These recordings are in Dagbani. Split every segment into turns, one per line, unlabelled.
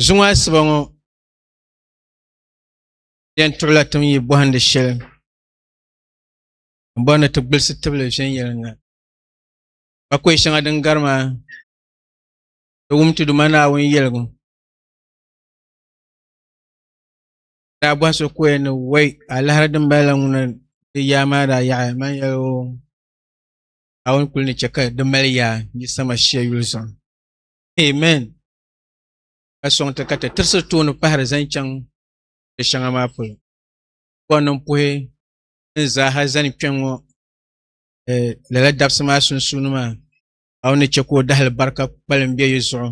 Zuŋɔ asiba ŋɔ yɛn tuɣila tin yi bɔhindi shɛli n bɔri ni ti gbilisi tibili viɛnyɛliŋga ka kɔɛ shɛŋa din gari maa di wum ti Duuma Naawuni yɛligu daa bɔhi so kɔɛ ni wɔi alahara din bala la ŋuna di yaa maa daa yaɣaya man yɛli o Naawuni kuli ni chɛ ka di mali yaa yi sama shia yuli zuɣu amen ka sɔŋ ti ka ti tirisi tooni pahiri zani chaŋ di shɛŋa maa polo buɣa niŋ puhi ni zaaha zani kpɛŋŋɔ eh, lala dabisi maa sunsuuni maa a ni chɛ ka o dahili barika kpalim bɛ yi zuɣu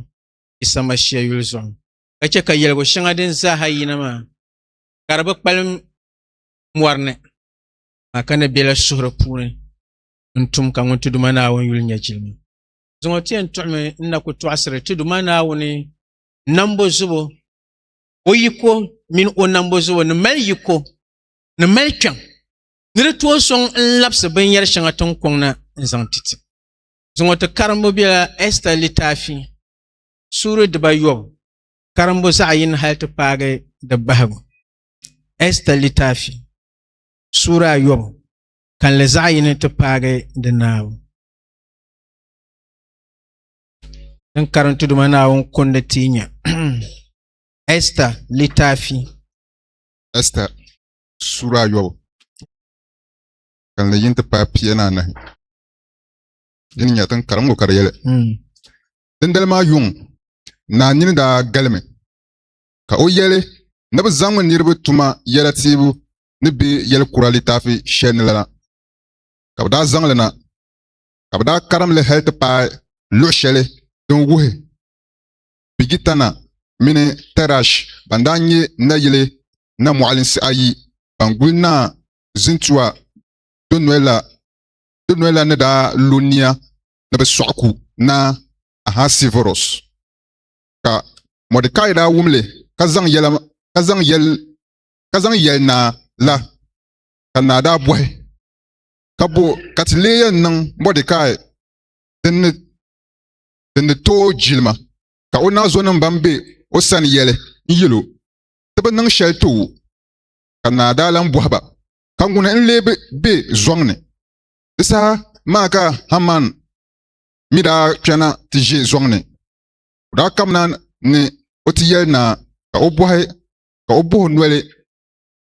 Yisa Mashia yuli zuɣu ka chɛ ka yɛligu shɛŋa din zaaha yina maa ka di bi kpalim mɔri ni maa ka ni bela suhuri puuni n-tum ka Ŋuntiduma Naawuni yuli nyɛ jilima. Zaŋɔ ti yɛn tuɣimi n na ku tɔɣisiri ti Duuma Naawuni nambo zubu, o yiko mini o nambo zubu ni mali yiko ni mali kpɛm ni di tooi sɔŋ n-labisi binyɛr shɛŋa tiŋ kɔŋ na n-zaŋ ti ti. Zaŋɔ ti karimbu bela Ɛsta litaafi suuri dibayɔbu karimbu zaɣ yini hal ti paagi di bahigu. Ɛsta litaafi suuri ayɔbu kalinli zaɣ yini ti paagi di naabu. Din karinti duma Naawuni kundi ti nya. Esta litaafi. Esta sura ayobu. Kanli yin ti paai pia ni anahi. Di ni nya tin karingu ka di yɛli. Hmm. Dindali maa yuŋ naa nini daa galimi ka o yɛli ni bi zaŋmi niriba tuma yɛla tiibu ni bɛ yɛli kura litaafi shɛli ni la ka bi daa zaŋli na ka bɛ daa karim li hal ti paai luɣ shɛli din wuhi Bigitana mini Tɛrash ban daa nyɛ nayili namɔɣilinsi ayi ban guli Naa Zintua donɔya la ni daa lo nia ni bɛ sɔɣi ku Naa Ahasivuros. Ka Mɔdɛkai daa wum li ka zaŋ yɛli naa la, ka naa daa bɔhi. ka bo ka ti lee yɛn niŋ Mɔdɛkai din ni din ni tooi jilima, ka o naazɔnim bɛn be o sani yɛli n-yɛl o, Ti bi niŋ shɛli ti wu. Ka naa daa lan bɔhi ba, Ka ŋuni n-lee bi be zɔŋ ni? Di saha maa ka Haman mi daa kpɛna ti ʒe zɔŋ ni. O daa kamina ni o ti yɛli naa ka o bɔhi ka o boh noli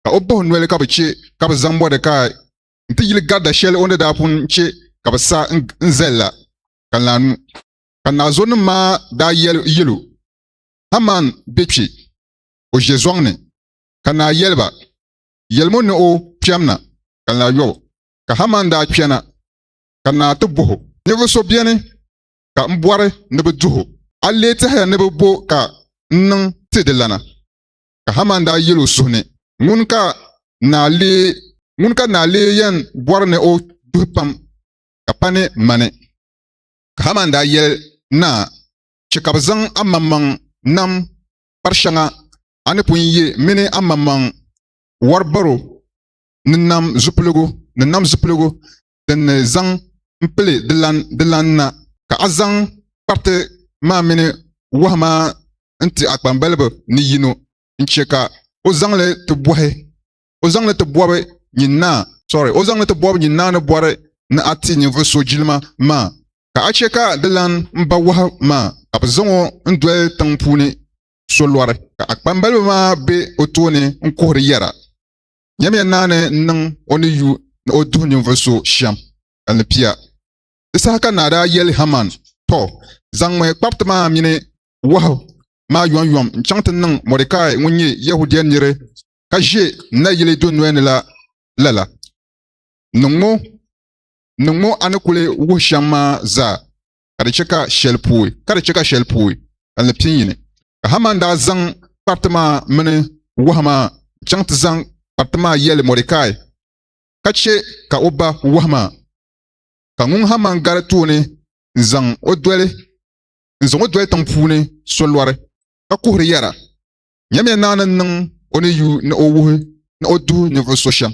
ka o buɣi noli ka bi chɛ ka bi zaŋ bɔdi ka n ti yili garida shɛli o ni daa pun chɛ ka bi sa n zali la, ka n laanu. Ka naazɔnim maa daa yɛl o, Haman be kpe, o ʒe zɔŋ ni. Ka naa yɛli ba, Yɛlim o ni o kpɛm na, ka n lahi yɔb o. Ka Haman daa kpɛna, ka naa ti bɔh o, Ninvuɣ so beni ka m bɔri ni bɛ duh o? A leei tɛhiya ni bɛ bo ka n niŋ ti di lana? Ka Haman daa yɛl o suhu ni, Ŋun ka naa lee ŋun ka naa lee yɛn bɔri ni o duhi pam ka pa ni mani? Ka Haman daa yɛli naa, Chɛ ka bɛ zaŋ amaŋmaŋ nam kpar shɛŋa a ni pun ye mini amaŋmaŋ wɔr baro ni nam zupiligu ni nam zupiligu din ni zaŋ m-pili di lan na, ka a zaŋ kpariti maa mini wahu maa n-ti a kpambaliba ni yino n-chɛ ka o zaŋ li ti bɔhi nyin naa ni bɔri ni a ti ninvuɣ so jilima maa, ka a chɛ ka di lan m-ba wahu maa, ka bɛ zaŋ o n-doli tiŋ puuni solɔri, ka a kpambaliba maa be o tooni n-kuhiri yɛra. Nyamiya naa ni niŋ o ni yu ni o duhi ninvuɣ so shɛm ka ni pia. Di saha ka naa daa yɛli Haman, Tɔ! Zaŋmi kpariti maa mini wahu maa yomyom n-chaŋ ti niŋ Mɔdɛkai ŋun nyɛ Yɛhudia nir ka ʒe n nayili dunoli ni la lala. Niŋ ŋɔ a ni kuli wuhi shɛm maa zaa ka di chɛ ka shɛli pooi ka ni pin yi ni. Ka Haman daa zaŋ kpariti maa mini wahu maa chaŋ ti zaŋ kpariti maa yɛli Mɔdekai, ka chɛ ka o ba wahu maa. Ka ŋun Haman gari tooni n-zaŋ o doli n-zaŋ o doli tiŋ puuni so lɔri, ka kuhiri yɛra, Nyamiya Naa ni niŋ o ni yu ni o wuhi ni o duhi ninvuɣ so shɛm.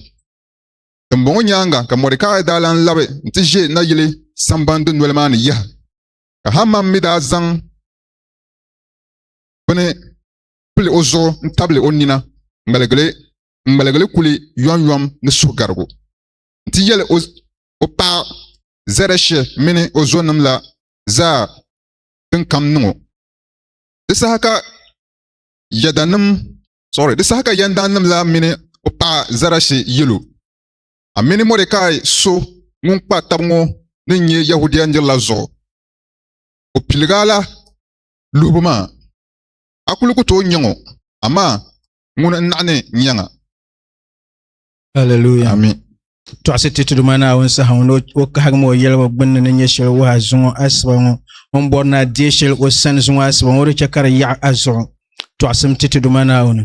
Dimbɔŋɔ nyaaŋa ka Mɔdekai daa lan labi nti ʒe nayili samban dunoli maa ni yaha. Ka Haman mi daa zaŋ bini pili o zuɣu n tabili o nina n ŋmaligili kuli yɔmyɔm ni suhugarigu n ti yɛli o paɣa zɛrɛshi mini o zonim la zaa din kam niŋ o di saha ka yɛdanim sorry di saha ka yɛndanim la mini o paɣa zɛrɛshi yɛlo a mini mɔdekai so ŋun kpa tab ŋɔ ni nyɛ yahudia nirila zuɣu o piliga la luhibu maa, a kul ku tooi nyaŋ o, amaa ŋuni n-naɣ ni n nyaŋ a. Aleluya. Amin. Tɔɣisi ti ti Duuma Naawuni saha ŋɔ ni o kahigi ma o yɛligu gbinni ni nyɛ shɛli wuhi a zuŋɔ asiba ŋɔ. O ni bɔri ni a deei shɛli o sani zuŋɔ asiba ŋɔ, o di chɛ ka di yaɣi a zuɣu. tɔɣisim ti ti Duuma Naawuni,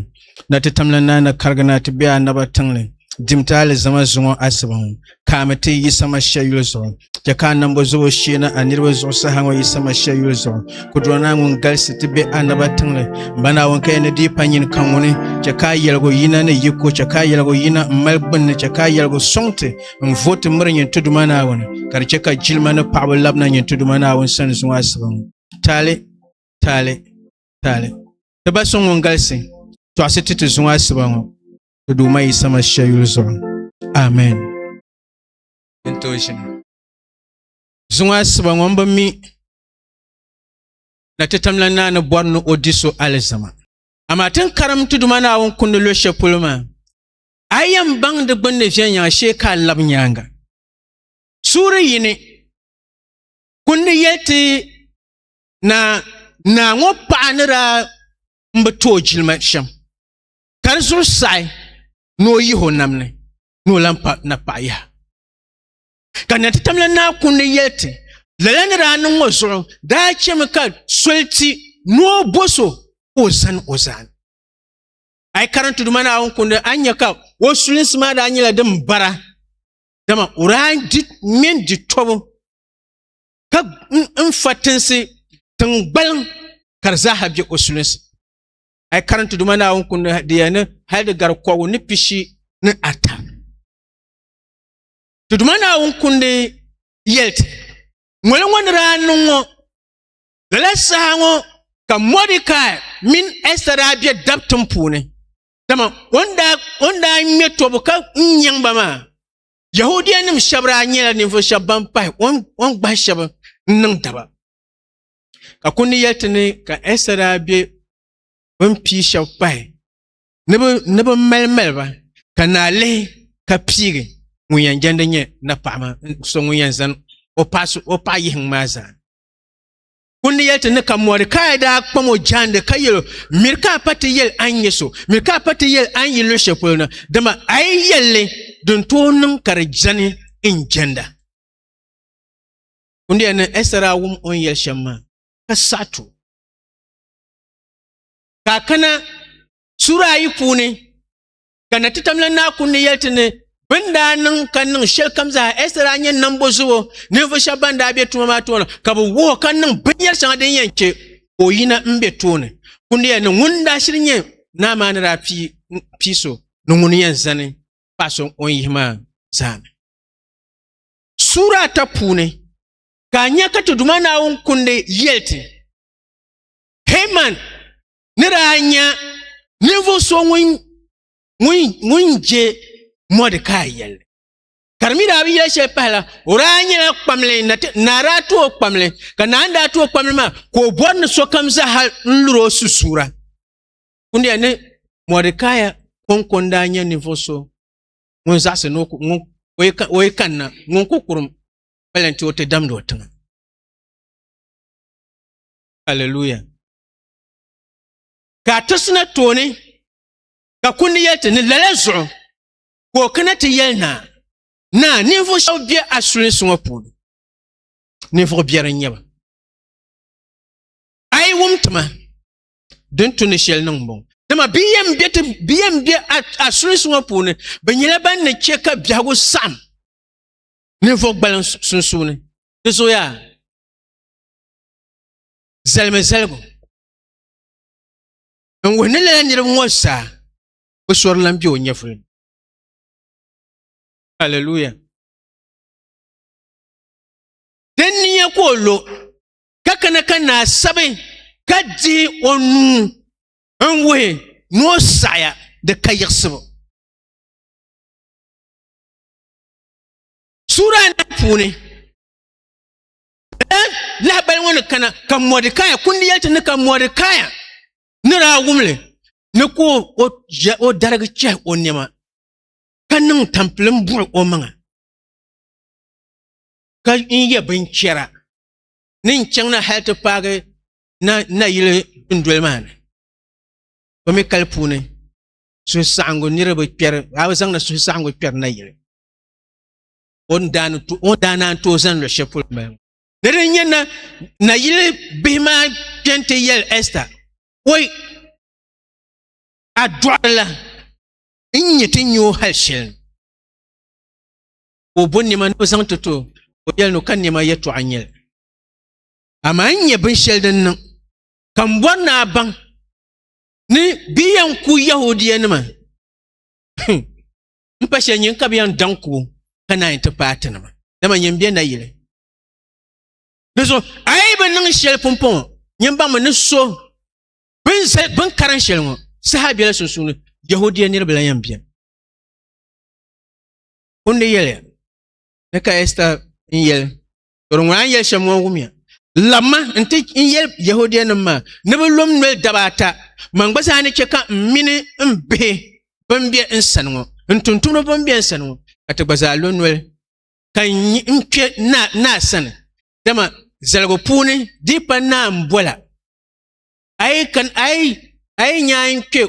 na ti tamla naai na karigi na ti be anaba tiŋli, dim ti alizama zuŋɔ asiba ŋɔ, ka a mi ti yi sama shia yuli zuɣu. Chɛ ka a nambo zɔbo shee na a niriba zuɣu saha ŋɔ yi sama shia yuli zuɣu. Kudurɔ naa ŋun galisi ti be anaba tiŋli, M ba Naawuni, ka ya ni di yi pa nyini ka ŋuni, chɛ ka a yɛligu yina ni yi ko, chɛ ka a yɛligu yina m mali gbinni, chɛ ka a yɛligu sɔŋ ti, n vo ti miri nyin ti Duuma Naawuni, ka di chɛ ka jilima ni paɣiba labina nyin ti Duuma Naawuni sani zuŋɔ asiba ŋɔ. Taali, taali. taali ti ba so ŋun galisi tɔɣisi ti ti zuŋɔ asiba ŋɔ ti Duuma Yisa Mashia yuli zuɣu. Amen. Din tooi ʒini. Zuŋɔ asiba ŋɔ m bi mi na ti tamla naa ni bɔri ni o di so alizama. Amaa ti ni karim ti Duuma Naawuni kundi luɣ shɛli polo maa, a yɛn baŋ di gbunni viɛnyɛŋ shee ka a lab nyaaŋa. Suuri yini, kundi yɛli ti na naa ŋɔ paɣa ni daa n bi tooi jilima shɛm ka di zuɣu saɣi ni o yihi o nam ni ni o lan pa napaɣa yaha ka na ti tamla naa kundi yɛli ti lala ni daa niŋ ŋɔ zuɣu daa chɛmi ka soli ti ni o bo so ka o zani o zaani a yi karim tuduma naawuni kundi a nyɛ ka o sulinsi maa daa nyɛla din bara dama o daa di mini di tobu ka n fa tinsi tingbaliŋ ka di zaaha bɛ o sulinsi a yi karinti duma naawuni kundi di yɛn ni hali di gari kɔgu ni pishi ni ata ti duma naawuni kundi yɛliti ŋoli ŋɔ ni daa niŋ ŋɔ lala saha ŋɔ ka mɔdikai mini ɛsta daa bɛ dabtim puuni dama o ni daa ŋmɛ tɔbu ka n nyɛŋ ba maa Yahudia nim shab daa nyɛla ninvuɣu shab ban pahi o ni gbahi shab n niŋ daba ka kundi yɛli ti ni ka Ɛsa daa bɛ bi ni pii shab pahi ni bi mali mali ba ka naa lihi ka piigi ŋun yɛn jɛndi nyɛ napaɣa maa so ŋun yɛn zani o paɣa yihi maa zaa Ŋun ni yɛli ti ni ka mɔri ka a daa kpam o jaandi ka yɛl o, Miri ka a pa ti yɛl a ni nyɛ so, miri ka a pa ti yɛl a ni yi luɣ shɛli polo na, dama a yi yɛl li, di ni tooi niŋ ka di jani n jɛnda. Kundia ni Ɛsta daa wum o ni yɛli shɛm maa, ka saɣi ti o. Ka a kana suura ayi puuni ka na ti tamla naa kun ni yɛli ti ni bin daa niŋ ka niŋ shɛli kam zaa ɛsɛ daa nyɛ nambo zuɣu ninvuɣu shɛba ban daa bɛ tuma maa tooni ka bi wuhi ka niŋ binyɛri shɛŋa din yɛn chɛ ka o yina n bɛ tooni kun ni yɛli ni ŋun daa shiri nyɛ naa maa ni daa pii so ni ŋun yɛn zani paɣa so o ni yihi maa zaa ni suura ata puuni ka a nya ka ti Duuma Naawuni kundi yɛli ti Heman ni daa nya ninvuɣ so ŋun je Mɔdikai yɛlli. Ka di mi daa bi yɛli shɛli pahila, o daa nyɛla kpamli, naa daa tu o kpamli, ka naa daa tu o kpamli maa, ka o bɔri ni sokam zaha n-luri o susuura. Kundiya ni Mɔdikai kɔŋko n-daa nyɛ ninvuɣ so ŋun zaɣisi ni o yi kanna ŋun ku kurum pali nti o ti damdi o tiŋa. Hallelujah. ka a ti sina tooni ka kundi yɛli ti ni lala zuɣu ka o kana ti yɛli naa naa ninvuɣu shɛba bɛ a sulinsi ŋɔ puuni ninvuɣu biɛri n nyɛba a yi wum tima din tu ni shɛli niŋ bɔŋɔ dama bɛ yɛn bɛ ti bɛ yɛn bɛ a sulinsi ŋɔ puuni bɛ nyɛla ban ni chɛ ka biɛhigu saɣam ninvuɣu gbaliŋ sunsuuni di zooyaa zalimi zaligu n wuhi ni lala niriba ŋɔ zaa bi sori lan be o nyɛvuli ni haleluya din ni nya ka o lo ka kana ka naa sabi ka dihi o nuu n wuhi ni o saɣaya di ka yiɣisibu sura anahi puuni lahabali ŋɔ ni kana ka mɔdikaya kundi yɛliti ni ka mɔdikaya ni daa wumli ni ka o darigi chɛhi o nɛma ka niŋ tampilim buɣi o maŋa ka n yɛ binchɛra ni n chaŋ na hali ti paagi nayili dundoli maa ni o mi kali puuni suhusaɣingu niriba kpɛri a bi zaŋdi suhusaɣingu kpɛri nayili o ni daa ni to- o daa naan tooi zaŋ luɣu shɛli polo mali ŋɔ. Ni di nyɛ na nayili bihi maa kpɛn ti yɛli Ɛsta, oi, a dɔɣirila n nyɛ ti nyɛ o hali shɛli ni. Ka o bo nɛma ni o zaŋ ti to, o yɛli ni o ka nɛma yɛtɔɣa n-nyɛ li. Amaa n nyɛ binshɛli din niŋ ka m bɔri ni a baŋ ni bɛ yɛn ku Yɛhudianima n pa shɛli nyin ka bi yɛn daŋ ku ka naan yi ti paai ti nima dama nyin bɛ na yili di zuɣu a yi bi niŋ shɛli pumpɔŋɔ nyin baŋ mi ni so bin zali bin karan shɛli ŋɔ saha biɛla sunsuuni yahudia niraba la yɛn biɛni kundi yɛli ni ka ɛsta n yɛli Tɔri ŋuna n yɛli shɛm ŋɔ wumya. Labima n ti n yɛli Yɛhudianim maa ni bɛ lom noli daba ata, man gba zaa ni chɛ ka m mini m bihi bɛn be n sani ŋɔ, n tuntumdiba bɛn be n sani ŋɔ, ka ti gba zaa lo noli, ka n kpe naa sani. Dama zaligu puuni dii pa naa m-bɔla. A yi nya a ni kpe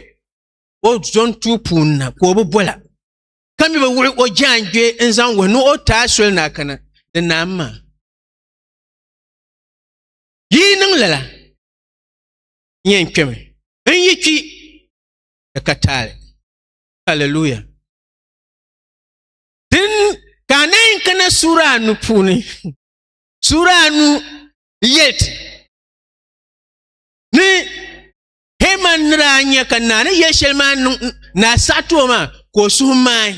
o zɔntuu puuni na ka o bi bɔla. ka mi bi wuɣi o jaangbee n zaŋ wuhi ni o taa soli na kana ni naa maa yi niŋ lala n yɛn kpɛmi n yi kpi di ka taali haleluya din ka a nayin kana suura anu puuni suura anu yɛliti ni Heman ni daa nya ka naa ni yɛli shɛli maa niŋ naa saɣa ti o maa ka o suhu maai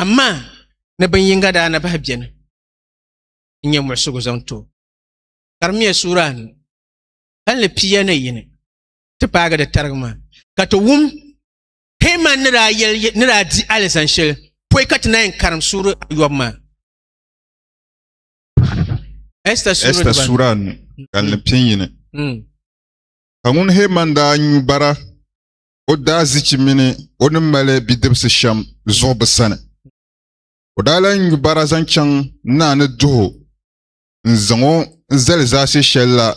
amaa ni bin yinga daa na bahi bɛni n nyɛ muɣisigu zaŋ ti o karimiya suura anu hali ni pia ni yini ti paagi di tarigi maa ka ti wum Heman ni daa yɛli ni daa di alizan shɛli pɔi ka ti na yɛn karim suuri yɔbu maa Ɛsta Ɛsta suura anu hali ni pia yini Ka ŋun Heman daa nyu bara, o daazichi mini o ni mali bidibisi shɛm zuɣu bi sani. O daa lan nyu bara zaŋ chaŋ naa ni duh o n-zaŋ o zali zaase shɛli la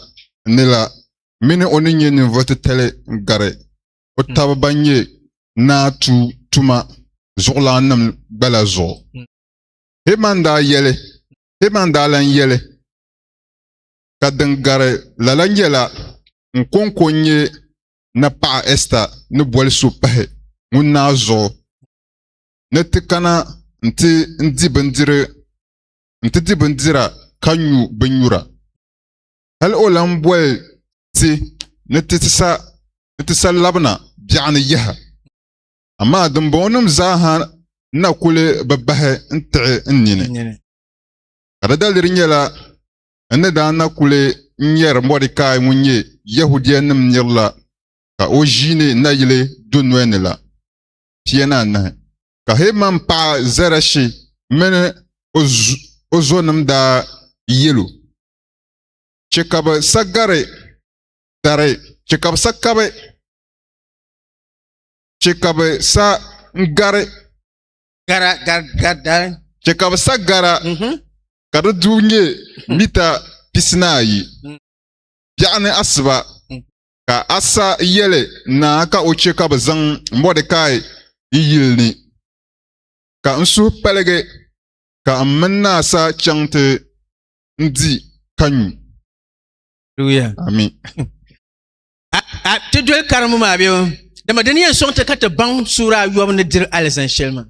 ni la mini o ni nyɛ ninvuɣ titali gari o taba ban nyɛ naa tuu tuma zuɣulaannim gba la zuɣu. Heman daa yɛli, Heman daa lan yɛli. ka din gari lala nyɛla n kɔŋko n-nyɛ ni paɣa Ɛsta ni boli so pahi ŋun naa zuɣu ni ti kana nti di bindira ka nyu binnyura. Hal o lan boli ti ni ti sa labina biɛɣu ni yaha. Amaa dimbɔŋɔnim zaaha na kul bi bahi n-tiɣi n nini. Ka di daliri nyɛla N ni daa na kuli nyɛri Mɔdɛkai ŋun nyɛ Yɛhudianim nir la ka o ʒiini nayili dunoli ni la pia ni anahi. Ka Heman paɣa Zɛrɛshi mini o zonim daa yɛl o, Chɛ ka bɛ sa gari dari, chɛ ka bɛ sa kabi, chɛ ka bɛ sa gari, chɛ ka bɛ sa gara ka di du nyɛ mita pisinaayi. Biɛɣu ni asiba ka Asa yɛli naa ka o chɛ ka bɛ zaŋ Mɔdɛkai yi yili ni, ka n suhu paligi ka m mini naa Asa chaŋ ti n di ka nyu. Amin. A ti doli karimu maa bee? Dama di ni yɛn sɔŋ ti ka ti baŋ suura ayɔbu ni diri alizani shɛli maa.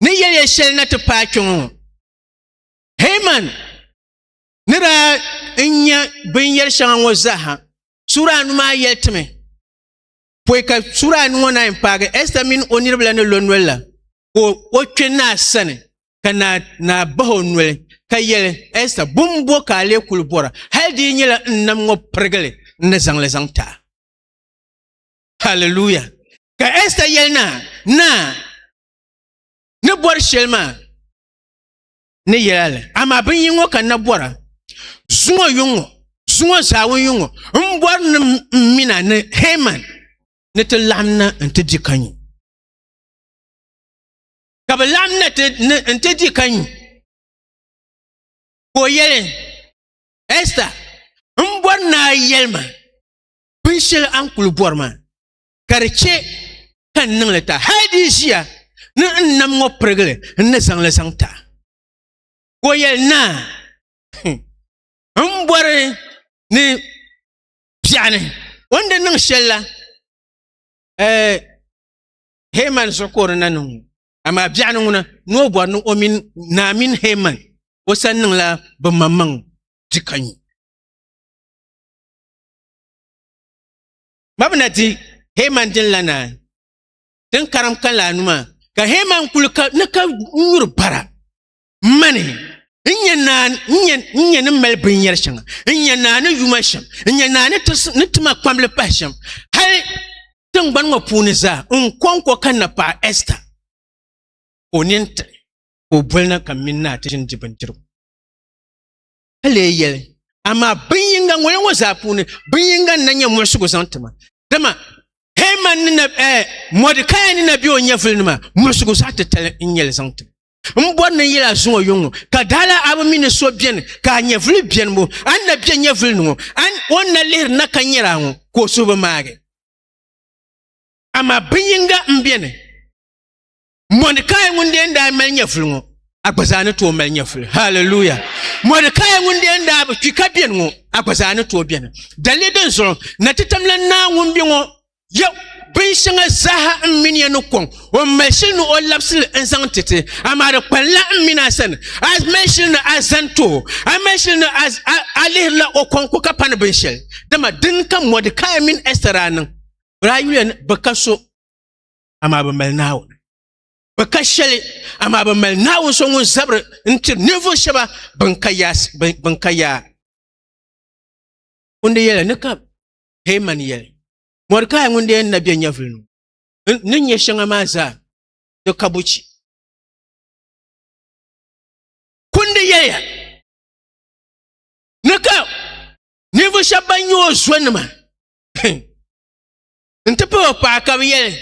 ni yɛliya shɛli na ti paai kpɛ ŋɔ heman ni daa n nya binyɛri shɛŋa ŋɔ zaaha suura anu maa yɛli ti mi pɔi ka suura anu ŋɔ naa yɛn paagi ɛsta mini o niriba la ni lo noli la ka o kpɛ naa sani ka naa naa bahi o noli ka yɛli ɛsta bum bo ka a lee kuli bɔra hali di yi nyɛla n nam ŋɔ pirigili n ni zaŋli zaŋ ti a haleluya ka ɛsta yɛli naa naa ni bɔri shɛli maa ni yɛla li amaa bin yi ŋɔ ka na bɔra zuŋɔ yuŋɔ zuŋɔ zaawu yuŋɔ n bɔri ni n mina ni heman ni ti laɣam na n ti di ka nyu ka bi laɣam na n ti di ka nyu ka o yɛli ɛsta n bɔri naa yɛli ma binshɛli a ni kuli bɔri maa ka di chɛ ka n niŋli ta hal di ʒiya ni n nam ŋɔ pirigili n ni zaŋli zaŋ ta ka o yɛli naa n bɔri ni biɛɣuni o ni di niŋ shɛli la heman zuɣu ka o di na niŋ ŋɔ amaa biɛɣuni ŋuna ni o bɔri ni o mini naa mini heman o san niŋla bi maŋmaŋ di ka nyu Ba bi na di Heman din la naan tin karim kan la numa ka Heman kuli ka ni ka nyuri bara mani n nyɛ naan n nyɛ ni mali binyɛri shɛŋa n nyɛ naa ni yuma shɛm n nyɛ naa ni tima kpambili pahi shɛm hali tingbani ŋɔ puuni zaa n kɔŋko ka na paɣa Ɛsta ka o nini tiɣi ka o boli na ka mini naa ti ʒini di bindirigu ka lee yɛli, Amaa bin yinga ŋɔya ŋɔ zaa puuni, bin yinga n-na nyɛ muɣisigu zaŋ ti ma. Dama Hɛman ni na, eh, Mɔdikaya ni na be o nyɛvuli ni maa, muɣisigu zaɣ titali n-nyɛ li zaŋ ti ma. M bɔri ni n yɛl a zuŋɔ yuŋ ŋɔ, ka dala a bi mi ni so beni ka a nyɛvuli beni bo, a ni na be nyɛvuli ni ŋɔ, a ni, o ni na lihiri n na ka nyari a ŋɔ, ka o suhu bi maagi. Amaa bin yinga m-beni. mɔdikai ŋun dee daa mali nyɛvuli ŋɔ a gba zaa ni tooi mali nyɛvuli haleluya mɔdikai ŋun dee daa bi kpi ka beni ŋɔ a gba zaa ni tooi beni dalili din zuɣu na ti tamla naa ŋun be ŋɔ ya bin shɛŋa zaaha n mini ya ni kɔŋ o mali shili ni o labisili n zaŋ ti ti amaa di kpanila n mini a sani a mali shili ni a zani too a mali shili ni a lihirila o kɔŋ ko ka pani binshɛli dama din ka mɔdikai mini ɛsira niŋ bɛ daa yuya bi ka so amaa bi mali naawuni bi ka shɛli amaa bi mali naawuni so ŋun zabiri n tiri ninvuɣu shɛba bin ka yaa bin ka yaa ŋun de yɛli ni ka heeman yɛli mɔrikaa ŋun de yɛn na bɛ nyɛvili nu ni nyɛ shɛŋa maa zaa di ka buchi kundi yɛliya ni ka ninvuɣu shɛba ban nyɛ o zonima n ti pahi o paɣa ka bi yɛli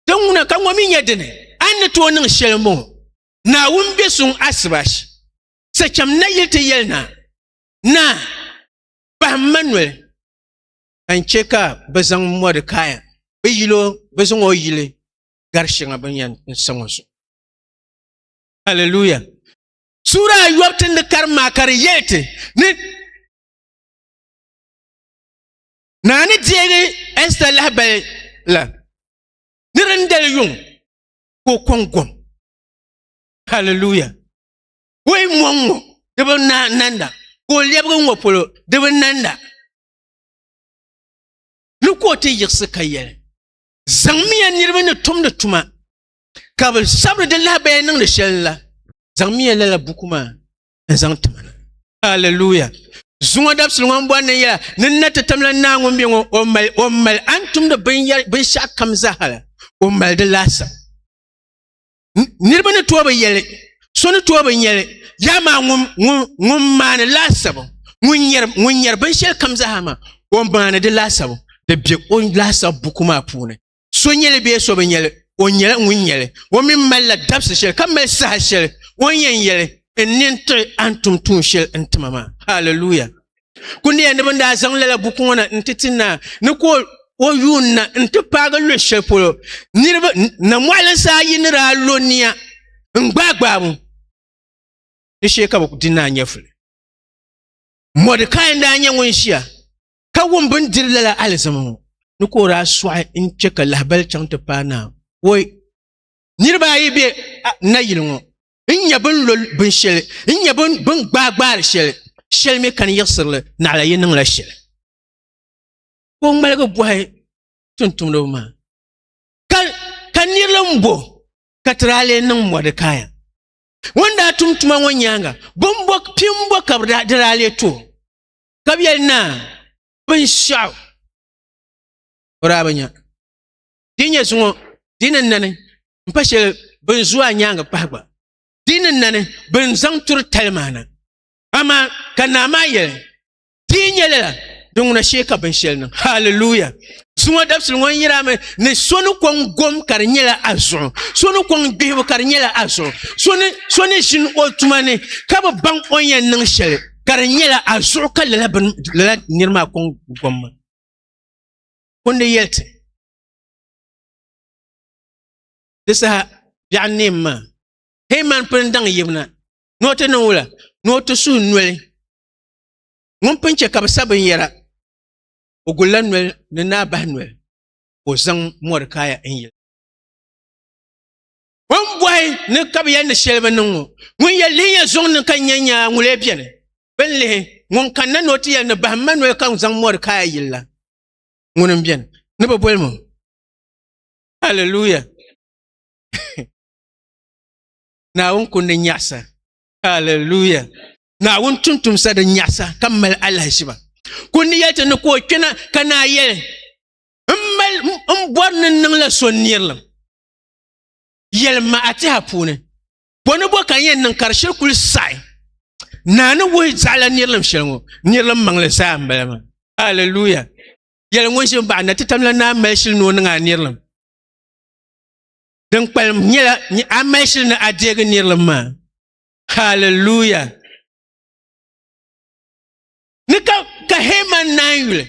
ti ŋuna ka ŋɔ mi nyɛ dini a ni tooi niŋ shɛli mo naawun bɛ suŋ asibash sa chɛm na yili ti yɛli na na pahim ma noli ka n chɛ ka bi zaŋ mɔdikaya bi yilo bi zaŋ o yili gari shɛŋa bin yɛn n sa ŋɔ zuɣu haleluya sura ayɔbu ti ni kari maa ka di yɛli ti ni Naa ni deegi Ɛsta lahabali la ni di ni dali yuŋ ka o kɔŋ gom. Hallelujah. O yi mɔŋ ŋɔ di bi nanda ka o lɛbigi ŋɔ polo di bi nanda ni ka o ti yiɣisi ka yɛli zaŋmiya niriba ni tumdi tuma ka bi sabiri di lahabaya niŋdi shɛli la zaŋmiya lala buku maa n zaŋ ti ma na aleluya zuŋɔ dabisili ŋɔ n bɔri ni yɛla ni n na ti tamla naa ŋun bɛ ŋɔ o mali o mali a ni tumdi binshaɣu kam zaaha la o mali di laasabu niraba ni tooi bi yɛli so ni tooi bi nyɛli yaa maa ŋun maani laasabu ŋun nyɛri binshɛli kam zaaha maa o maani di laasabu di bɛ o laasabu buku maa puuni so nyɛli bee so bi nyɛli o nyɛla ŋun nyɛli o mini malila dabisi shɛli ka mali saha shɛli o ni yɛn yɛli n nini tiɣi a ni tum tuun shɛli n tima maa haleluya ku niya ni bin daa zaŋ lala buku ŋɔ na n ti ti naa ni ka o yuun na n ti paagi luɣu shɛli polo niraba na moɣali saa yi ni daa lo niya n gbaai gbaai mu di shee ka bi di naa nyɛfuli mɔdikai n daa nyɛ ŋun ʒiya ka wum bin diri lala alizama ŋɔ ni ka o daa sɔɣi n chɛ ka lahibali chaŋ ti paai naa woi niriba ayi be nayili ŋɔ n nyɛ bin lo binshɛli n nyɛ bin gbaai gbaari shɛli shɛli mi ka ni yiɣisirili naɣila yi niŋla shɛli ka o ŋmaligi bɔhi tumtumdiba maa ka ka nirili n bo ka ti daa lee niŋ mɔdikaya ŋun daa tum tuma ŋɔ nyaaŋa bimbo pimbo ka di daa lee to ka bi yɛli naa binshaɣu o daa bi nya di nyɛ zuŋɔ di ni nani n pa shɛli bin zu a nyaangi pahi gba di ni nani bin zaŋ turi tali maa na amaa ka naa maa yɛli di nyɛ lala din ŋuna shee ka binshɛli niŋ haleluya zuŋɔ dabisili ŋɔ n yira mi ni so ni kɔŋ gom ka di nyɛla a zuɣu so ni kɔŋ gbihibu ka di nyɛla a zuɣu so ni so ni ʒini o tuma ni ka bi baŋ o ni yɛn niŋ shɛli ka di nyɛla a zuɣu ka lala bin lala niri maa kɔŋ gomma o ni yɛli ti di saha biɛɣu neem maa hei man pini daŋ yibina ni o ti niŋ wula ni o ti suhu noli ŋun pun chɛ ka bi sa binyɛra o gulla noli ni naa bahi noli ka o zaŋ mɔri kaaya n yili O ni bɔhi ni ka bi yɛn ni shɛli bi niŋ ŋɔ. Ŋun yɛn lihi ya zuŋ ni ka nya nyaa ŋun lee bɛni. Bɛ ni lihi ŋun kanna ni o ti yɛli ni bahim ma noli ka zaŋ mɔri kaai yili la. Ŋuni m-bɛni ni bi boli ma. Hallelujah. Naawuni kundi nyaɣisa. Hallelujah. Naawuni tuntumsa di nyaɣisa ka mali alahiziba. Kundi yɛli ti ni ka o kpɛna ka naa yɛli, M mali m bɔri ni n niŋ la so nirilim. yɛlima a tiha puuni bɔ ni bɔ ka n yɛn niŋ ka di shiri kuli saɣi naa ni wuhi zaɣala nirilim shɛli ŋɔ nirilim maŋli zaa n bala maa aleluya yɛli ŋun ʒi baɣa na ti tamla naa mali shili ni o niŋ a nirilim din kpalim nyɛla a mali shili ni a deegi nirilim maa haleluya ni ka ka heman naan yuli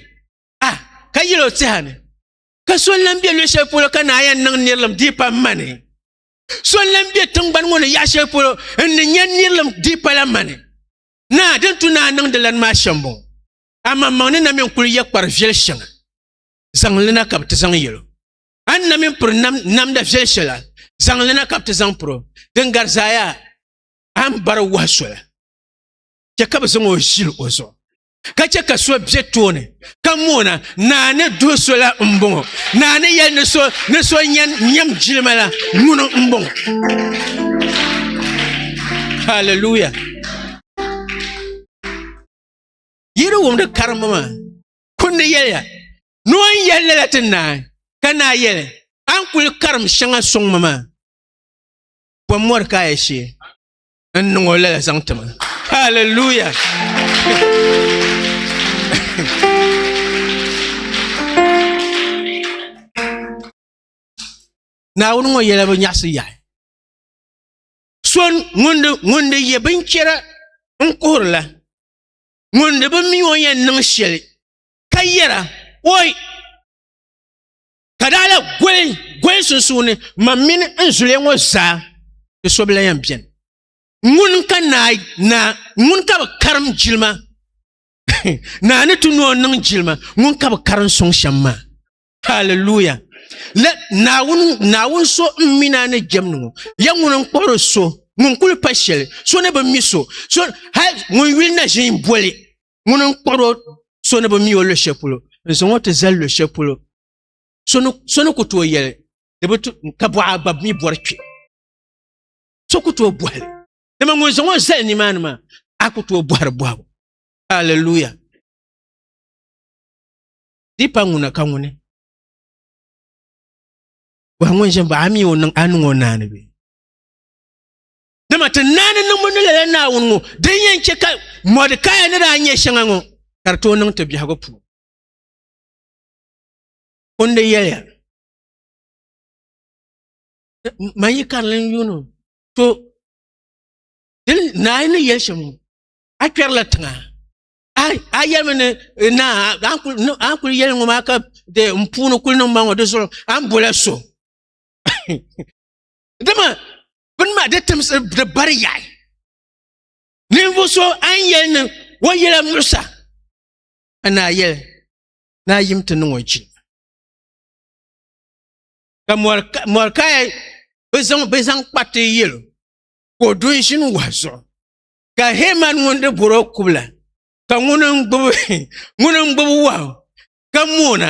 a ka yɛl o tiha ni ka so n lan bɛ luɣu shɛli polo ka naa yɛn niŋ nirilim diipa n mani so n lan bɛ tingbani ŋɔ ni yaɣa shɛli polo n ni nyɛ nirilim diipa la mani naa din tu naa niŋdi lan maa shɛm bɔŋɔ aman maŋ ni na mini kuli yɛ kpari viɛli shɛŋa zaŋlina ka bi ti zaŋ yɛlo a ni na mini piri namda viɛli shɛla zaŋlina ka bi ti zaŋ piro din gari zaaya a ni bari wahi sola chɛ ka bi zaŋ o ʒili o zuɣu ka chɛ ka so bɛ tooni ka moona naa ni duhi so la n bɔŋɔ naa ni yɛli ni so ni so nyɛm jilima la ŋuni n bɔŋɔ haleluya yi di wumdi karimba maa kundi yɛliya ni o ni yɛli lala ti naa ka naa yɛli a ni kuli karim shɛŋa sɔŋ ma maa bɔmmɔri ka a yɛ shee n niŋ o lala zaŋ ti ma haleluya naawuni ŋɔ yɛla bi nyaɣasi yaɣi so ŋun di yɛ binchɛra n kuhurila ŋun di bi mi o yɛn niŋ shɛli ka yɛra oi ka daa la goli goli sunsuuni ma mini n zuliya ŋɔ zaa ti so bila yɛn biɛni ŋun ka naa naa ŋun ka bi karim jilima naa ni ti noo niŋ jilima ŋun ka bi karim suŋ shɛm maa haleluya la naawuni naawuni so n mina ni jɛm ni ŋɔ ya ŋun n kpuɣiri so ŋun kuli pa shɛli so ni bi mi so so hali ŋun yuli na ʒin boli ŋuni n kpuɣiri o so ni bi mi o luɣu shɛli polo n zaŋ o ti zali luɣu shɛli polo so ni ku tooi yɛli di bi ka bɔɣa gba mi bɔri kpɛ so ku tooi bɔhili dama ŋun zaŋ o zali nimaani maa a ku tooi bɔhiri bɔhibu haleluya di pa ŋuna ka ŋuni bɔhi ŋun ʒini ba a mi o niŋ a niŋ o naani bɛ Dama ti naani niŋbu ni lala Naawuni ŋɔ din yɛn chɛ ka Mɔdikaya ni daa nyɛ shɛŋa ŋɔ ka di tooi niŋ ti biɛhigu puuni. Kundi yɛliya, Man yi karili n-yuuni o, to, dini naa ni yɛli shɛm ŋɔ, a kpɛrila tiŋa, a yɛlimi ni naa a kuli yɛli ŋɔ maa ka n puuni kuli niŋ ma ŋɔ di zuɣu a ni bola so. Dama bini maa di timsi di bari yaɣi ninvuɣu so a ni yɛli ni o yɛla muɣusa ka naa yɛli naa yim ti niŋ o jin ka mɔrikaya bi zaŋ bi zaŋ kpariti yɛlo ka o du n ʒini wahu zuɣu ka heman ŋun di boro kubila ka ŋuni n gbubi ŋuni n gbubi wahu ka moona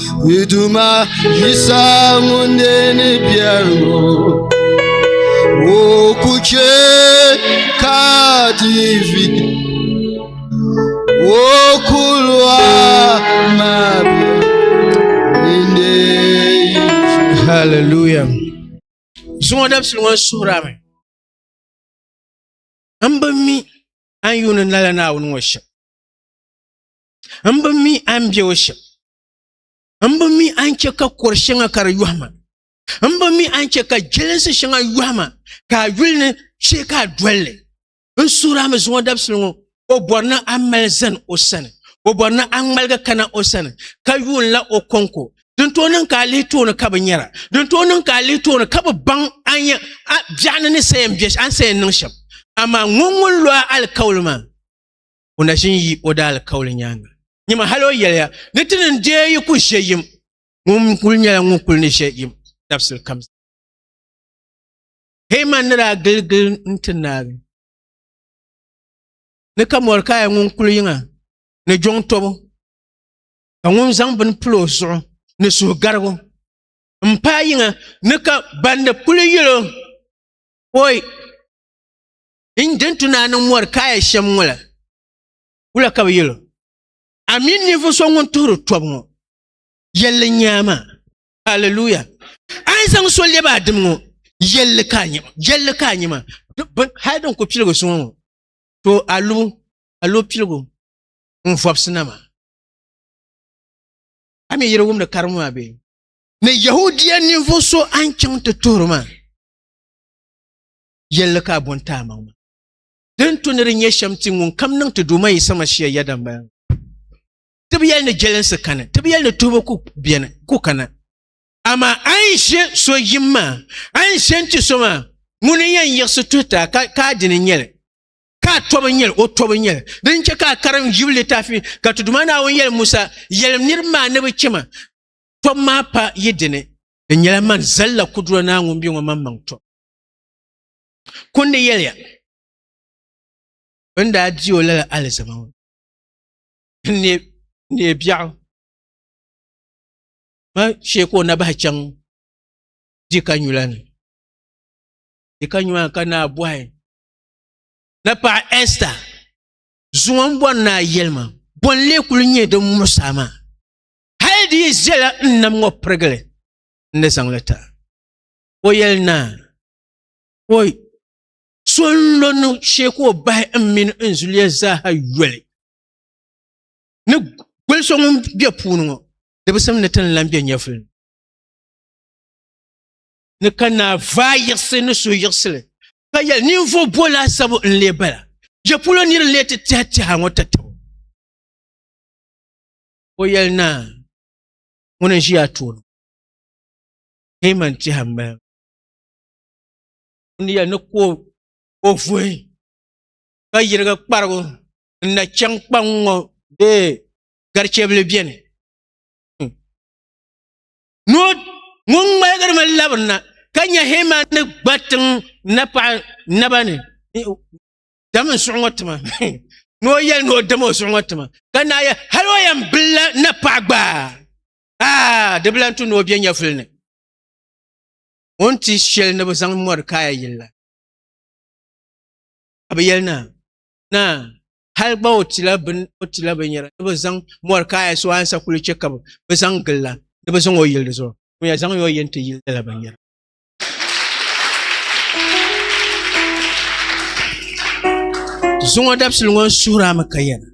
Ni Duuma Yisa ŋun ne ni biɛri ŋɔ o ku chɛ ka ti vi o kuluwa maa bɛ ni Hallelujah. Zuŋɔ dabisili ŋɔ suhira mi. N bi mi an yuuni nala Naawuni ŋɔ shɛm. N bi mi a ni bɛ o shɛm. N bi mi a ni chɛ ka kɔr shɛŋa ka di yɔhi ma. N bi mi a ni chɛ ka jɛlinsi shɛŋa yɔhi ma ka a yuli ni shee ka a doli li. N suhiri a mi zuŋɔ dabisili ŋɔ, o bɔri ni a mali zani o sani. O bɔri ni a ŋmaligi kana o sani, ka yuunila o kɔŋko. Din tooi niŋ ka a lihi tooni ka bi nyara. Din tooi niŋ ka a lihi tooni ka bi baŋ a ni a biɛɣuni ni saya m-be a ni saya niŋ shɛm. Amaa ŋun ŋun lo a alikauli maa, o na ʒin yi o daali kauli nyaaŋa. Nyima hal o yɛliya ni ti ni deei yi ku ʒe yim, ŋun kuli nyɛla ŋun kuli ni ʒe yim dabisili kam zaa. Heman ni daa giligili n-ti Naawuni ni ka Mɔrikaya ŋun kuli yiŋa ni jɔŋ tɔbu, ka ŋun zaŋ bini pili o zuɣu ni suhugarigu m-paai yiŋa ni ka bandi kuli yɛl o, Oi! din je nti naa niŋ mɔri kaaya shɛm ŋɔ la, wula ka bɛ yɛl o? Amin ninvuɣ so ŋun tuhiri tɔbu ŋɔ, yɛl li nya a maa. Haleluya! A ni zaŋ so lɛb a dim ŋɔ, yɛl li ka a nya maa. Yɛl li ka a nya maa. Hal din ku piligi suŋɔ ŋɔ, to a lu a lu piligu n vɔbisi na maa. A mi yiri wumdi karibu maa bee? Ni Yɛhudia ninvuɣ so a ni chaŋ ti tuhiri maa, yɛlli ka a bɔn ti amaŋ ma. Din tu ni di nyɛ shɛm ti ŋun kam niŋ ti Duuma Yisa Masia yɛda m-bala ŋɔ. Ti bi yɛli ni jɛlinsi kani, ti bi yɛli ni tuhibu ku beni, ku kana. Amaa a ni ʒe so yim maa, a ni ʒe n-ti so maa, ŋun ni yɛn yiɣisi tuhi ti a, ka, ka a dini n-nyɛ li, ka a tɔbu n-nyɛ li, o tɔbu n-nyɛ li. Dini n-chɛ ka a karim Yub litaafi ni ka ti Duuma Naawuni yɛli Musa, Yɛlim niriba maa ni bɛ chɛ ma tɔbu maa pa yi dini, Di nyɛla man zali la Kudura Naa ŋun be ŋɔ maŋmaŋ tɔbu. Kundi yɛliya, Bɛ ni daa di o lala alizama ŋɔ n-neei biɛɣu maa shee ka o na bahi chaŋ Dikanyula ni. Dikanyula ni ka naa bɔhi na paɣa Ɛsta, Zuŋɔ m bɔri ni a yɛli ma, bɔ n-lee kuli nyɛ din muɣisi a maa? Hal di yi zala n nam ŋɔ pirigili n ni zaŋ li ti a. ka o yɛli naa ka o so n lo ni shee ka o bahi n mini n zuliya zaaha yoli ni goli so ŋun bɛ puuni ŋo di bi simdi ti ni lan bɛ nyɛvuli ni ni ka naa vaa yiɣisi ni so yiɣisili ka yɛli ninvuɣu bo laasabu n lee bala je polo niri n lee ti tiha tiha ŋo ti tabo o yɛli naa ŋuni n ʒiya tooni Heman tɛha m-mali o ni yɛli ni ka o vuhi ka yirigi kparigu n na chaŋ kpaŋ ŋɔ bee garichɛbili beni ŋun ŋmaligiri mi labiri na ka nya Heman ni gba tiŋ napaɣa naba ni dam n suɣi ŋɔ tima ni o yɛli ni o dam o suɣi ŋɔ tima ka naai yɛli hali o yɛn bilila napaɣa gba a di bi lan tu ni o bɛ nyɛvuli ni o ni ti shɛli ni bi zaŋ mɔri kaaya yili la ka bi yɛli na na hali gba o tila bin o tila binyɛra ni bi zaŋ mɔri kaaya so ansa kuli chɛ ka bi bi zaŋ gili la ni bi zaŋ o yili di zuɣu ŋun yɛn zaŋ o yini ti yili nyɛla binyɛra zuŋɔ dabisili ŋɔ n suhurami ka yɛna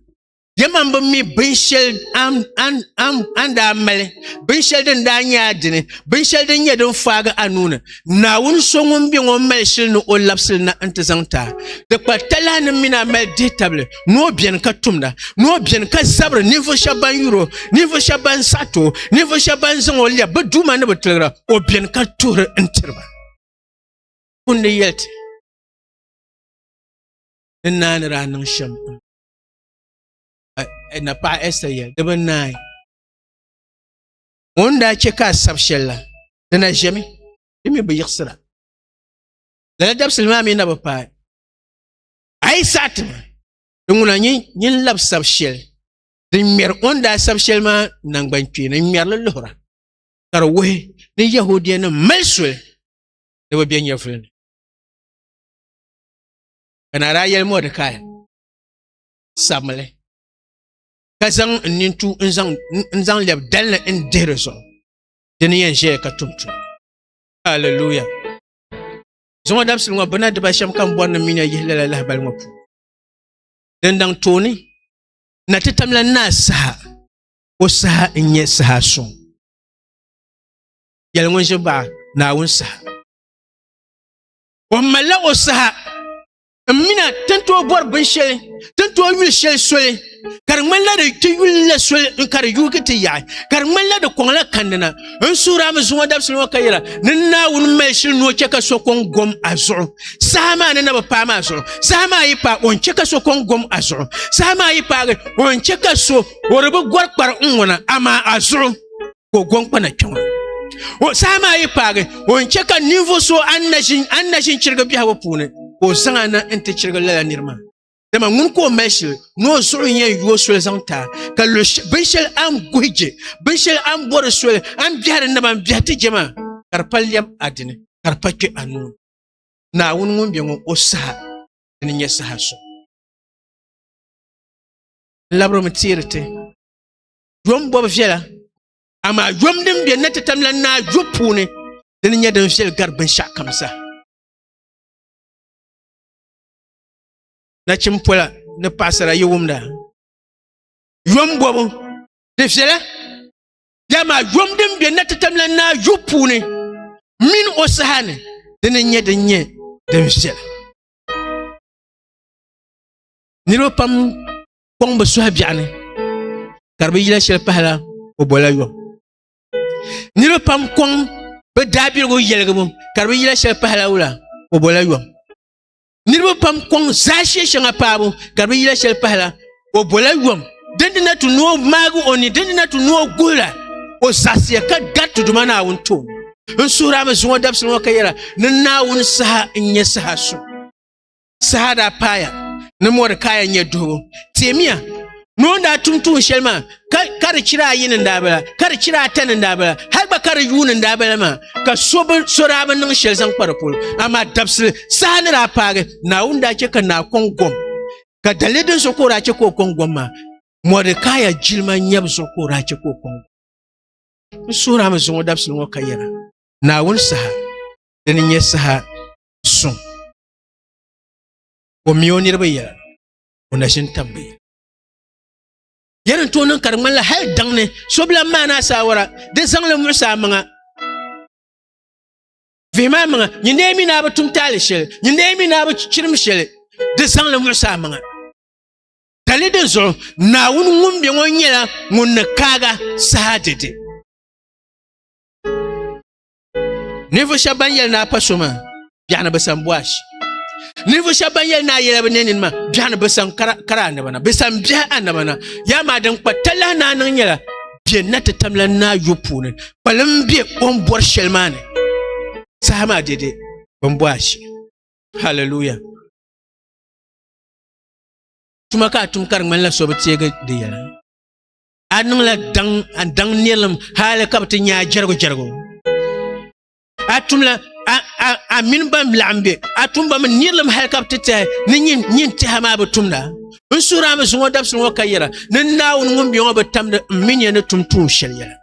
Dama n bi mi binshɛli an daa mali binshɛli din daa nyɛ a dini binshɛli din nyɛ din faagi a nuuni naawuni so ŋun bɛ ŋɔ mali shili ni o labisili na n ti zaŋ ti a di kpa talahi ni mini a mali dihi tabili ni o biɛni ka tumda ni o biɛni ka zabiri ninvuɣu shɛba ban yuro ninvuɣu shɛba ban saɣiti o ninvuɣu shɛba ban zaŋ o lɛbi bi duuma ni bi tiligira o biɛni ka tuhiri n tiriba kundi yɛli ti ni naanira niŋ shɛm eh, na paɣa Esther yɛli di bi naai ŋun daa chɛ ka a sabi shɛli la di na ʒɛmi di mi bi yiɣisira lala dabisili maa mi na bi paai a yi saɣa ti ma di ŋuna nyin labi sabi shɛli din ŋmɛri o ni daa sabi shɛli maa nangbani kpeeni n ŋmɛrili luhura ka di wuhi ni yahudia nim mali soli ni bi bɛ nyɛvuli ni ka na daa yɛli mɔdikaya sabinli ka zaŋ n nintu n zaŋ n zaŋ lɛbi dalini n dihi di zuɣu di ni yɛn ʒɛya ka tum tum halleluya zuŋɔ dabisili ŋɔ bina diba shɛm ka n bɔri ni mi na yihi lala lahibali ŋɔ puuni din daŋ tooni na ti tamla naa saha o saha n nyɛ saha suŋ yɛli ŋun ʒi baɣa naawuni saha o malila o saha n mina ti ni tooi bɔri binshɛli ti ni tooi yuli shɛli soli ka di ŋmanila di ti yuli la soli n ka di yuugi ti yaɣi ka di ŋmanila di kɔŋla kandi na n suura mi zuŋɔ dabisili ŋɔ ka yɛra ni naawuni mali shili ni o chɛ ka so kɔŋ gom a zuɣu saha maa ni na bi paai maa zuɣu saha maa yi paai o ni chɛ ka so kɔŋ gom a zuɣu saha maa yi paagi o ni chɛ ka so o di bi gɔri kpari n ŋɔna amaa a zuɣu ka o gɔŋkpana kpɛ ŋɔ o saha maa yi paagi o ni chɛ ka ninvuɣu so an na ʒin chirigi biɛhigu puuni ka o zaŋ ana n ti chirigi lala niri maa dama ŋun ka o mali shili ni o zuɣu yɛn yuo soli zaŋ taa ka binshɛli an guhi je binshɛli an bori soli an biɛhiri naba n biɛhi ti je maa ka di pa lɛm a dini ka di pa kpɛ a nuu naawuni ŋun bɛ ŋɔ o saha ni nyɛ saha so labirimi teeri ti yom bɔbi viɛla amaa yom din be na ti tam la naa yo puuni dini nyɛ din viɛli gari binshɛɣu kam sa nachin pola ni paɣasara yi wumda yom bɔbu di viɛla dama yom din be na ti tam la naa yo puuni mini o saha ni dini nyɛ din nyɛ din viɛla niriba pam kɔŋ bi suhi biɛɣu ni ka di bi yila shɛli pahila o bola yɔ niriba pam kɔŋ bi daabiligu yɛligibu ka di bi yila shɛli pahila wula o bola yɔ niriba pam kɔŋ zaashee shɛŋa paabu ka di bi yila shɛli pahila o bola yɔm din dina ti ni o maagi o ni din dina ti ni o guhira o zaɣisiya ka gariti duma naawuni tooni n suhirami zuŋɔ dabisili ŋɔ ka yɛra ni naawuni saha n nyɛ saha su saha daa paaya ni Mɔdekaya nyɛ duhibu teemiya ni o ni daa tum tuun shɛli maa ka di chira ayi ni daa bala ka di chira ata ni daa bala hali gba ka di yuu ni daa bala maa ka so daa bi niŋ shɛli zaŋ kpa di polo amaa dabisili saha ni daa paagi naawuni daa chɛ ka naa kɔŋ gom ka dalili din so ka o daa chɛ ka o kɔŋ gom maa mɔdekaya jilima nyɛbu zuɣu ka o daa chɛ ka o kɔŋ gom n suhura mi zuŋɔ dabisili ŋɔ ka yɛra naawuni saha dini nyɛ saha suŋ o mi o niriba yɛla o na ʒini tam bi yɛli n tooi niŋ ka di ŋmanila hali daŋ ni so bila maa ni asaawara di zaŋli muɣisi a maŋa vihi maa maŋa nyin dee mi naa bi tum taali shɛli nyin dee mi naa bi chirim shɛli di zaŋli muɣisi a maŋa dali di zuɣu naawuni ŋun bɛ ŋɔ nyɛla ŋun ni kaaga saha dede ninvuɣu shɛba ban yɛli naa pa so maa biɛɣuni bi san bɔash ninvuɣu shɛba ban yɛli naa yɛla bi nɛnini maa biɛɣuni bi san kara kara annaba na bi san biɛhi annaba na yaa maa din kpa talahi naa niŋ nyɛla bɛ na ti tamla naa yo puuni kpalim bɛ o ni bɔri shɛli maa ni saha maa dede bin bɔash hallelujah tuma ka a tum ka di ŋmanila so bi teegi di yɛla a niŋla daŋ a daŋ nirilim hali ka bi ti nyaa jɛrigu jɛrigu a tumla a a a mini ban laɣim be a tumba mi nirilim hali ka bi ti tɛhi ni nyin nyin tɛha maa bi tumda n suhiri a mi zuŋɔ dabisili ŋɔ ka yɛra ni naawuni ŋun bɛ ŋɔ bi tamdi n mi nya ni tum tuun shɛli yɛla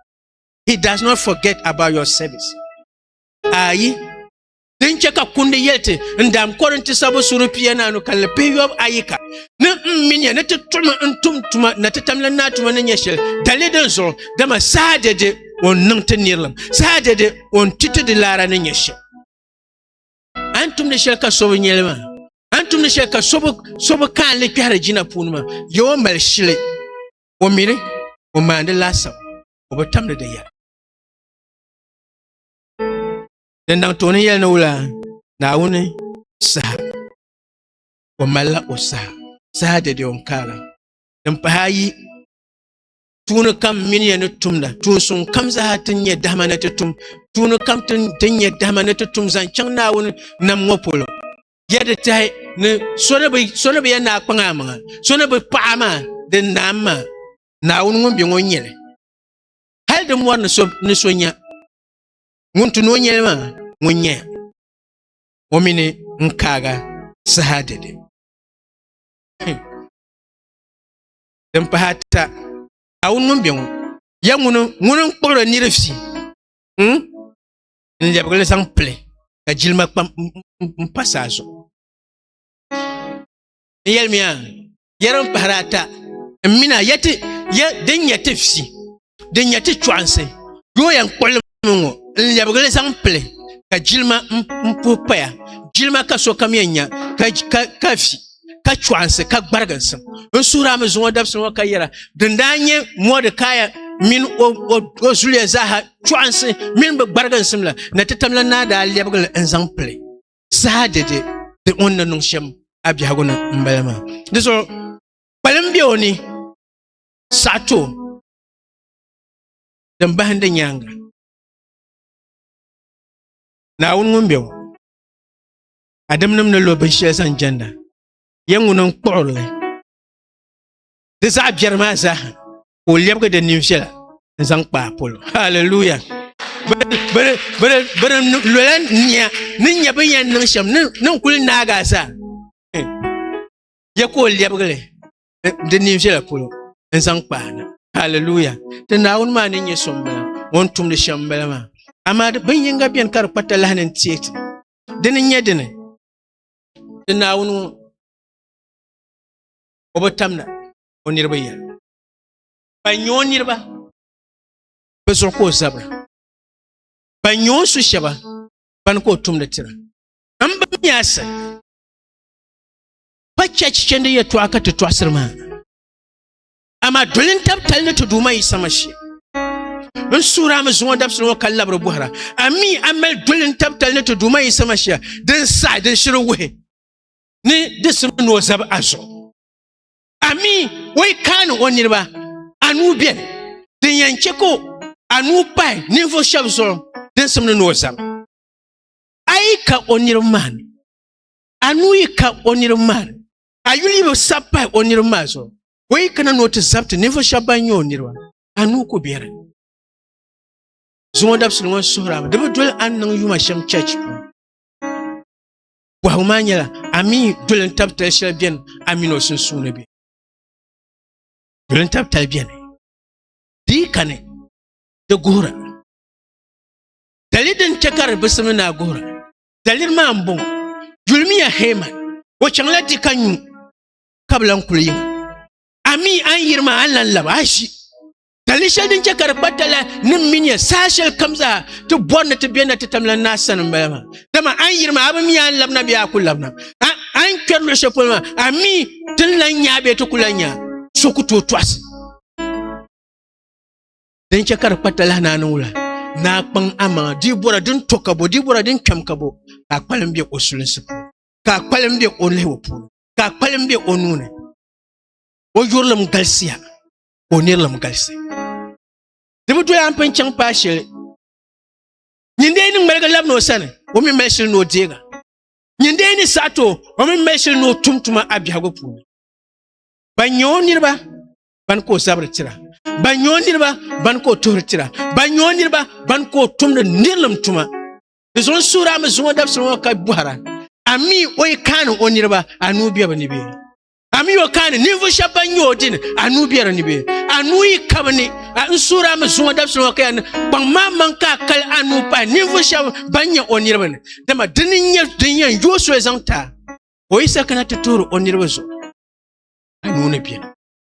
he does not forget about your service ayi din chɛ ka kundi yɛli ti n daam Kɔrinti sabu suri pianaanu kanli pihiyɔbu ayi ka ni n mi nya ni ti tuɣimi n tum tuma na ti tamla naa tuma ni nyɛ shɛli dali din zuɣu dama saha dɛde o ni niŋ ti nirilim saha dɛde o ni ti ti di laara ni nyɛ shɛli a ni tumdi shɛli ka so bi nyɛli maa a ni tumdi shɛli ka so bi kaanli kpɛhiri jina puuni maa yɛ o mali shili o mini o maandi laasabu o bi tamdi di yɛla Di niŋ tooni yɛli ni wula Naawuni saha o malila o saha saha dɛdɛ o ni kaala din pahi ayi tuuni kam mini yɛn ni tumda tuunsuŋ kam zaa ti nyɛ dahama ni ti tum tuuni kam ti nyɛ dahama ni ti tum zaŋ chɛŋ Naawuni nam ŋɔ polo yɛ di tahi ni so ni bi yɛn naa kpaŋ a maŋa so ni bi paɣa maa din naam maa Naawuni ŋun bɛ ŋɔ nyɛli hali di mɔri ni so nya ŋun tu ni o nyɛli maa ŋun nyɛ o mini n kaaga saha dɛde din pahi ata a wun ŋun bɛ ŋɔ ya ŋuni ŋuni n kpuɣiri niri fi hmm? n lɛbigili zaŋ pili ka jilima kpam n pa saa zuɣu n yɛlimiya ya din pahiri ata n mini a ya din nyɛ ti fi din nyɛ ti chɔɣinsi yoo yɛn kpuɣili mi ŋɔ n lɛbigili zaŋ pili ka jilima n puhi paya jilima ka sokam yɛn nya ka fi ka chɔɣinsi ka gbariginsi n suhiri a mi zuŋɔ dabisi ŋɔ ka yɛra din daa nyɛ mɔdikaya mini o zuliya zaaha chɔɣinsi mini bɛ gbariginsim la ni ti tamla naa daa lɛbigili n zaŋ pili saha dɛde di o ni na niŋ shɛm a biɛhigu ni m-bala maa di zuɣu kpalim be o ni saɣi ti o din bahindi nyaaŋa Naawuni ŋun be ŋɔ adamnim ni lo binshɛli zaŋ jɛnda yɛn ŋuni n-kpuɣiri li di zaɣ biɛri maa zaaha ka o lɛbigi di nin viɛla n zaŋ kpaai polo haleluya bini lola nia ni nyɛ bin yɛn niŋ shɛm ni n kuli naagi a zaa yɛ ka o lɛbigili di nin viɛla polo n zaŋ kpaai na haleluya ti naawuni maa ni nyɛ so n bala o ni tumdi shɛm n bala maa amaa bin yinga biɛni ka di kpa talahi ni n tiɛ ti dini n nyɛ dini ti naawuni ŋɔ o bi tamna o niriba yɛli ban nyɛ o niriba bɛ zuɣu ka o zabira ban nyɛ o su shɛba ban ka o tumdi tira n ba mi asa pa chɛchi chɛndi yɛtɔɣa ka ti tɔɣisiri maa amaa doli n tab tali ni ti duuma yi sama shee n suhira mi zuŋɔ dabisili ŋɔ ka labiri bɔhira ami a mali doli n tab tali ni ti duuma yi sama shee din saɣi din shiri wuhi ni di simi ni o zab a zuɣu Ami o yi kaani o niriba anu bɛni din yɛn chɛ ka anu pahi ninvuɣ shɛb zuɣu din simdi ni o zam. A yi ka o niriba maa ni, anu yi ka o niriba maa ni, a yuli yi bi sab pahi o niriba maa zuɣu, o yi kana ni o ti zabiti ninvuɣ shɛb ban nyɛ o niriba, anu ku be di ni. Zuŋɔ dabisili ŋɔ suhirila mi di bi doli a ni niŋ yuma shɛm chɛchi puuni. Bɔhigu maa nyɛla, a mi doli n-tab tali shɛli beni a mini o sunsuuni bɛ? Doli n-tab tali beni. Di yi kani, di guhira. Dali din chɛ ka di bi simdi ni a guhira. Daliri maa m-bɔŋɔ, Yulimiya Heman, o chaŋla di ka nyu, ka bi lan kuli yiŋa. A mi a ni yiri maa, a ni lan lab a ʒi. ka li shɛli din chɛ ka di kpa tala ni mi nya saha shɛli kam zaa ti bɔri ni ti bɛ na ti tam la naa sani m-bala maa dama a ni yiri maa a bi mi a ni labina bee a ku labina a ni kpɛri luɣ shɛli polo maa a mi ti ni lan nya bee ti ku lan nya so ku tooi tɔɣisi din chɛ ka di kpa tala naa ni wula naa kpaŋ amaŋa di bɔra din to ka bo di bɔra din kpɛm ka bo ka a kpalim bɛ o sulinsi puuni ka a kpalim bɛ o lihibu puuni ka a kpalim bɛ o nuuni o yurilim galisiya ka o nirilim galisi di bi doya n pun chaŋ paai shɛli nyindee ni ŋmaligi labina o sani o mi mali shili ni o deega nyindee ni saɣa to o mi mali shili ni o tum tuma a biɛhigu puuni ban nyɛ o niriba ban ka o zabiri tira ban nyɛ o niriba ban ka o tuhiri tira ban nyɛ o niriba ban ka o tumdi nirilim tuma di zuɣu n suhiri a mi zuŋɔ dabisili ŋɔ ka bɔhira a mi o yi kaani o niriba a nuu bɛ bi ni bɛ A mi o kaani ninvuɣu shɛba ban nyɛ o dini anuu bɛ di ni bɛ anuu yi kabi ni n suuri a mi zuŋɔ dabisili ŋɔ ka yɛn kpaŋ maa maŋ ka a kali anuu pahi ninvuɣu shɛba ban nyɛ o niriba ni dama dini n nyɛ din yɛn yooi soli zaŋ ti a o yi sa kana ti tuhiri o niriba zuɣu anuu ni bɛni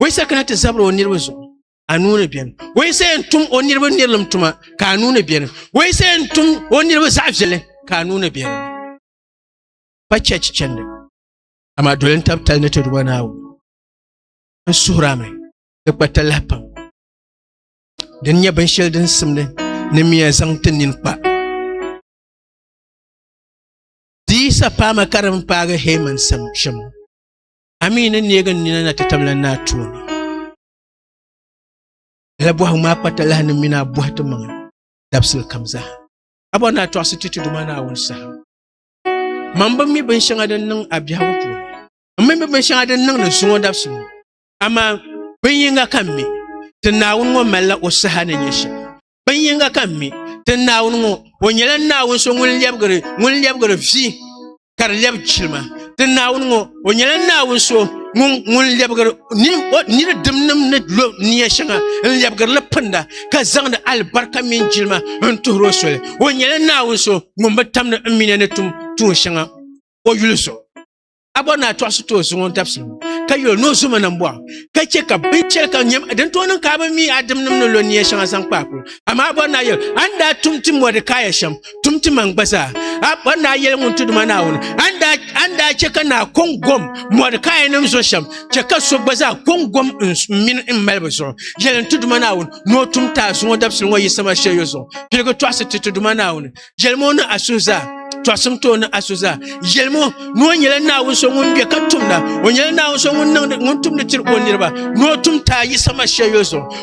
o yi sa kana ti zabiri o niriba zuɣu anuu ni bɛni o yi sa yɛn tum o niriba nirilim tuma ka anuu ni bɛni o yi sa yɛn tum o niriba zaɣ viɛlli ka anuu ni bɛni pa chɛchi chɛndi amaa doli n tab tali ni ti duba naawuni n suhura mi di kpa talahi pam din nyɛ binshɛli din simdi ni miya zaŋ ti nini kpa diisa paama ka din paagi heman sam shɛm amii ni neegi n nina na ti tabila ni a tooni la bɔhigu maa kpa talahi ni mini a bɔhi ti maŋa dabisili kam zaa a bɔ ni a tɔɣisi ti ti duma naawuni saha Mam bi mi binshɛŋa din niŋ a biɛhigu puuni. M mi mi binshɛŋa din niŋ ni zuŋɔ dabisi ŋɔ. Amaa bin yiŋga ka m mi, ti Naawuni ŋɔ malila o saha ni nya shɛm. Bin yiŋga ka m mi, ti Naawuni ŋɔ, o nyɛla Naawuni so ŋun lɛbigiri vi ka di lɛbi chilima. Ti Naawuni ŋɔ, o nyɛla naawuni so ŋun lɛbigiri niri dimnim ni lo nia shɛŋa n lɛbigirili pinda ka zaŋdi alibarika mini jilima n tuhiri o soli o nyɛla naawuni so ŋun bi tamdi n mina ni tum tuun shɛŋa o yuli zuɣu a bɔri ni a tɔɣisi tooi zuŋɔ dabisi ka yuli ni o zoma nam bɔɣu ka chɛ ka binchɛli ka nyɛm din tooi niŋ ka a bi mi a dimnim ni lo nia shɛŋa zaŋ kpaakulu amaa a bɔri ni a yuli a ni daa tum ti mɔdikaya shɛm tum ti man gba zaa a bɔri naa yɛli ŋun ti duma naawuni an daa chɛ ka naa kɔŋ gom mɔdikaya nim zuɣu shɛm chɛ ka so gba zaa kɔŋ gom n mini n mali bi zuɣu yɛli n ti duma naawuni ni o tum taa zuŋɔ dabisili ŋɔ yisama shɛyo zuɣu piligi tɔɣisi ti ti duma naawuni yɛli mo ni asu zaa tɔɣisim ti o ni asu zaa yɛli mo ni o nyɛla naawuni so ŋun bɛ ka tumda o nyɛla naawuni so ŋun tumdi tiri o niriba ni o tum taa yisama shɛyo zuɣu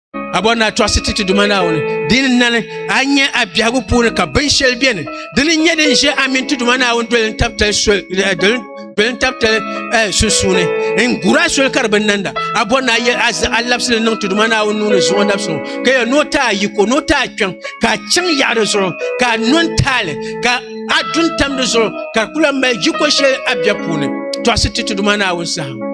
Abɔri ni a tɔɣisi ti ti Duuma Naawuni. Di ni nani a nya a biɛhigu puuni ka binshɛli beni di ni nyɛ din ʒe a mini ti Duuma Naawuni doli n-tabitali soli eh, doli doli n-tabitali eh, sunsuuni n-gur a soli ka di bi nanda. Abɔri ni a yɛl a zaɣa labisili niŋ ti Duuma Naawuni nuu ni zuɣu labisi ŋɔ ka yɛl ni o ti a yiko ni o ti a kpiɔŋ ka a chaŋ yaɣa di zuɣu ka a no n-taali ka a du n-tam di zuɣu ka a kula mali yiko shɛli a biɛhi puuni tɔɣisi ti ti Duuma Naawuni saha.